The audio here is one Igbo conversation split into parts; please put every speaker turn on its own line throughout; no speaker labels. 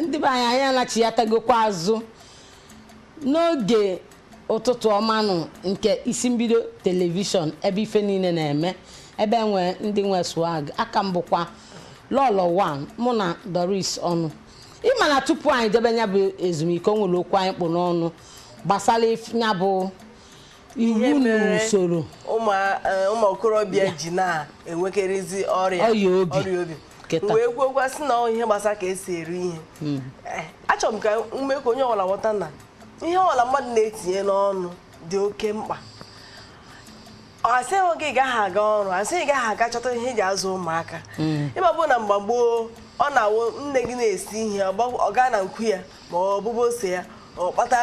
ndị be anyị anyị anachighatagokwa azụ n'oge ụtụtụ ọmanụ nke isi mbido telivishọn ebe ife niile na-eme ebe enwe ndị nwe swag aka m bụkwa Lolo One mụ na Doris ọnụ ịma na tupu anyị jebe nya bụ ezumike o nwere okwu anyị kpụ n'ọnụ gbasalụ nya bụ iwu na usoro e,
ụmụ okorobịa ji na-enwekarịzi ọrịa ọrịa obi wee kwuokwa sị na ọ ihe gbasara ka esi eri ihe hmm. eh, achọrọ m ka m mee ka onye ọbụla ghọta na ihe ọbụla mmadụ na-etinye n'ọnụ dị oke mkpa asịghị gị gaghị aga ọrụ asịghị gaghị aga chọta ihe eji azụ ụmụaka hmm. ịma bụ na mgbe gboo ọ na-awụ nne gị na-esi ihe ọ gaa na nkwu ya ma ọ bụbụ ose ya ọ kpata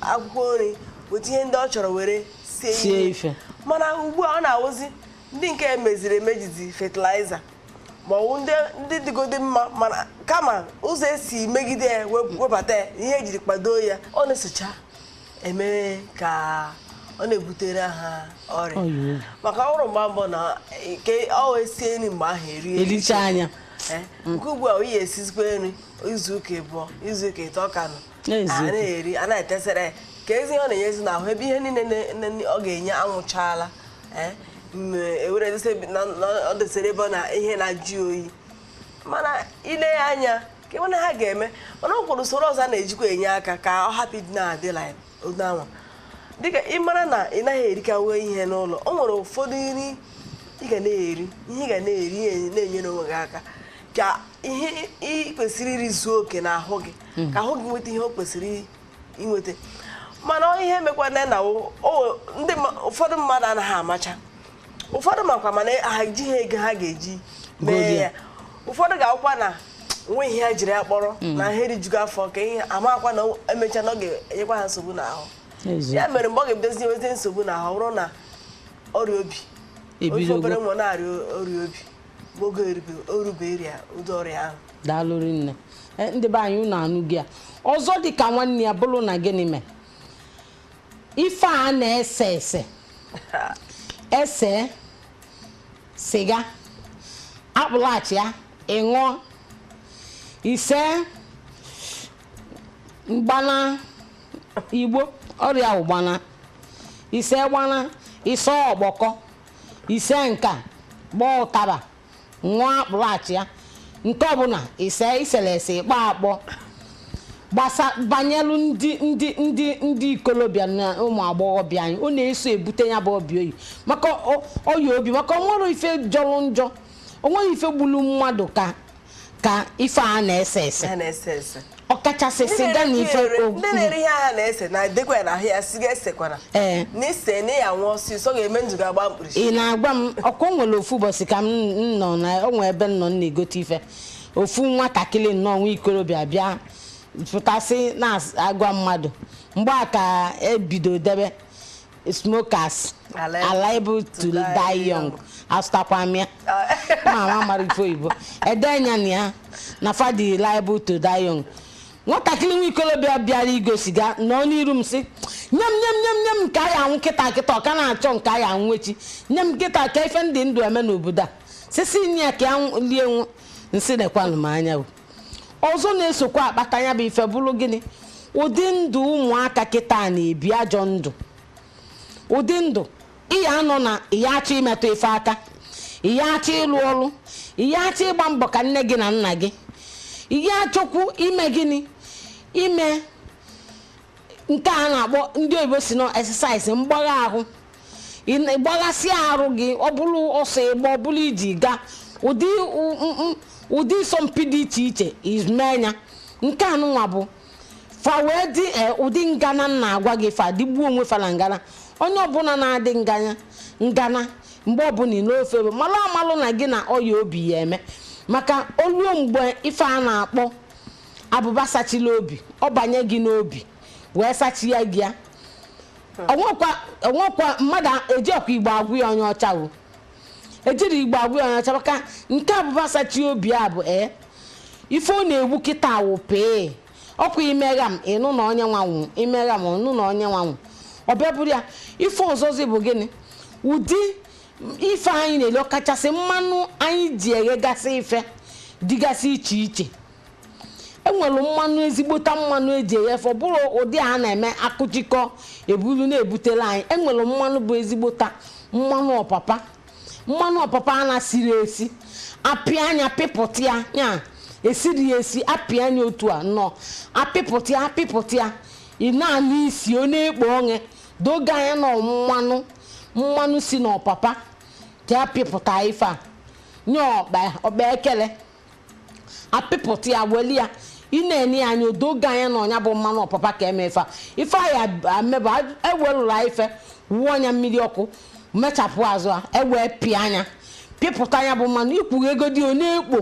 akwụkwọ nri weta ihe ndị ọ chọrọ were sie ife mana ugbu a ọ na-awụzi ndị nke emeziri emejizi fertilizer ma ọ wụ ndị dịgodi mma mana kama ụzọ esi megide ya webata ya ihe ejiri kpado ya ọ na-esocha eme ka ọ na-ebutere ha ọrịa maka ọ wụrụ mgbe mbụ na nke ọ wee sie nri mgbe ahụ erie erichaa
ya eh, nke ugbu
a anyị esizikwa nri izu ụka ịbụọ izu ụka ịtọ ka nọ a na-eri a na-etesere kezi ihe ọ na-enyezi n'ahụ ebe ihe niile ọ ga-enye anwụchaala eh, ewere ọ desere ebe na ihe na-ajụ oyi mana ile ya anya ka ịmana ha ga-eme mana ọ kwụrụ usoro ọzọ a na-ejikwa enye aka ka ọ hapụ ịdị na-adị anwa dịka ị mara na ị naghị erikawe ihe n'ụlọ o nwere ụfọdụ nri ị ga na-eri ihe ị ga na-eri na-enyere onwe gị aka ka ihe ị kwesịrị iri zuo oke n'ahụ gị hmm. ka ahụ gị nweta ihe o kwesịrị inweta mana ihe mekwana na ụfọdụ mmadụ anaghị amacha ụfọdụ makwa mana ha ejighị ego ha ga-eji mee ya ụfọdụ ga-awụkwa na o nweghị ihe ha jiri ya kpọrọ hmm. na ha erijugo afọ ka ihe amakwa na emecha na ọ ga-enyekwa ha nsogbu n'ahụ ya mere mgbe ọ ga-ebidozi nweta nsogbu n'ahụ ọ bụrụ na ọrịa obi ị fụ obere nwa na-arịa ọrịa obi oge erube ịrịa ụdị ọrịa ahụ daalụ
rinne e, ndị be anyị unu anụgo ya ọzọ dị ka nwanne ya bụrụ na gịnị mee ife a na-ese ese ise siga akpụlụ achịa ịṅụọ ise gbana igbo ọ ya wụ gbana ise gbana ise ọkpọkọ ise nka ịkpọ ụtaba ṅụọ akpụrụ achịa nke ọbụla ise i selu ese ịkpọ akpọ gbasa banyelu ndị ndị ndị ndị ikolobịa na ụmụ agbọghọbịa anyị ọ na-eso ebute nya bụ obi oyi maka ọ- ọya obi maka onwerọ ife jọlụ njọ onwerọ ife gbulu mmadụ ka ka ife a na-ese ese ha na-ese ese ọkachasị Ndị siga na na-ere ife ihe ere- o- ndị na-ere ihe
ha na-ese na edekwa ya na ahụ ya siga esekwana Ee. na i see na ịya anwụ ọsịsọ ga-eme ndụ gị agba mkpirisi ị na-agwa m ọkwa o
nwere ofu ụbọchị ka m m nọ na o nwee ebe m nọ m na-egote ife ofu nwatakịrị nnọọ nwa ikorobịa bịa pụta sị na-agwa mmadụ mgbe a ka ebido debe smokers are liable to die young asụtakwa m ya ma ma mara ife oyibo edenya na ya na fa dị liable to die young nwatakịrị nwa ikolobịa bịara igo siga nọ n'iru m sị nye m nye m nye m nye m nke anyị anwụ kịta kịta ọ ka na-achọ nke anyị anwụ echi nye m kịta ka ife ndị ndụ eme n'obodo a sị sị nye ya ka ya lie nwụọ m sị nekwanụ m anya o ọzọ na-esokwa akpata ya bụ ife bụrụ gịnị ụdị ndụ ụmụaka kịta na-ebi ajọ ndụ ụdị ndụ ịya anọ na ịya achọ imetụ ife aka ịya achọ ịlụ ọrụ ịya achọ ịgba mbọ ka nne gị na nna gị ịya achọkwu ime gịnị ime nke a na-akpọ ndị oyibo sị na exercise mgbagha ahụ ịgbaghasị arụ gị ọ bụrụ ọsọ ị gbaa ọ bụrụ ije ị gaa ụdị ụdị ịsọmpi dị iche iche ị mee nya nke anụnwa bụ fa wee dị e, ụdị ngana na-agwa gị fa dịgbuo onwe fa na ngana onye ọbụla na-adị nganya ngana mgbe ọbụla n'ofu ebe malụ amalụ na gị na ọya obi ya eme maka o luo mgbe ife a na-akpọ abụba sachila obi ọ banye gị n'obi wee sachi ya gị ya o nwekwa mmadụ ejirọkwa Igbo agwa ya onye ọcha o ejirọ Igbo agwa ya onye ọcha maka nke abụba sachi obi a bụ ee ife ọ na-egbu kịta awụ pee ọkwa i mee gham ị nụ na onye nwa anwụ i mee gham ị nụ na onye nwa anwụ ọ bịa bụrụ ya ife ọzọzi bụ gịnị ụdị ife anyị na-eli ọkachasị mmanụ anyị ji eghegasị ife dịgasị iche iche enwere mmanụ ezigbote mmanụ eji eghe ife ọ bụrọ ụdị a na-eme akụchikọ ebulu na-ebutela anyị enwere mmanụ bụ ezigbote mmanụ ọpapa mmanụ ọpapa a na-esiri esi apịa nya apịpụta ya ya esiri ya esi apịa nya otu a nnọọ apịpụta ya apịpụta ya ị na-anụ isi ọ na-ekpo ọṅụ doo gị anya na mmanụ mmanụ si n'ọpapa ka apịpụta ife a nye ọkpa ọkpa ekele apịpụta ya weli ya ị na-ene ya anya o doo gị anya na ọ nya bụ mmanụ ọpapa ka eme ife a. ife anyị amebụ ewelụrụ anyị ife wụọ nya mmiri ọkụ mechapụ azụ ya ewee pịa nya pịpụta nya bụ mmanụ i kwughegodi ọ na-ekpo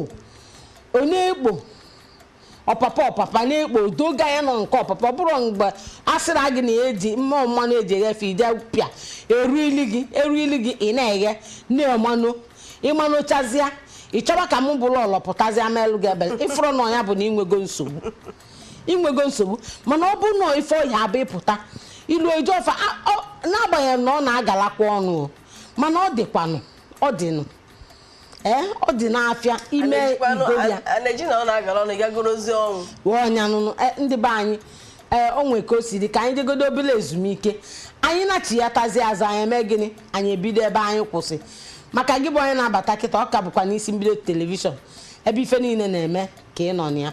ọ na-ekpo ọpapa ọpapa na-ekpo o doo gị anya na ọ nke ọpapa ọ bụrọ mgbe a sịrị gị na eji mmụọ mmanụ eji eghe ife ije pịa eruili gị eruili gị ị na-eghe na-emanụ ịma n'ochazịa ị chọba ka mụ bụrụ ọlọ pụtazịa melụ gị ebele ị fụrụ na ọ nya bụ na i nwego nsogbu i nwego nsogbu mana ọ bụrụ na ife ọ ya-abụ ịpụta ilu oje ọfa a- ọ- n'agbanyeghị na ọ na-agalakwa ọnụ o mana ọ dịkwanụ ọ dịnụ ee ọ dị n'afịa ime igoli ya a na-eji na ọ na-agara ọnụ gagoro ozi ọnwụ wee ọ nya nụnụ e, ndị be anyị ee o nwere ka o si dị ka anyị jegodo obere ezumike anyị nachịghatazi azụ anyị eme gịnị anyị ebido ebe anyị kwụsị maka gị bụ onye na-abata kịta ọ ka bụkwa n'isi mbido telivishọn ebe ife niile na-eme ka ị nọ na ya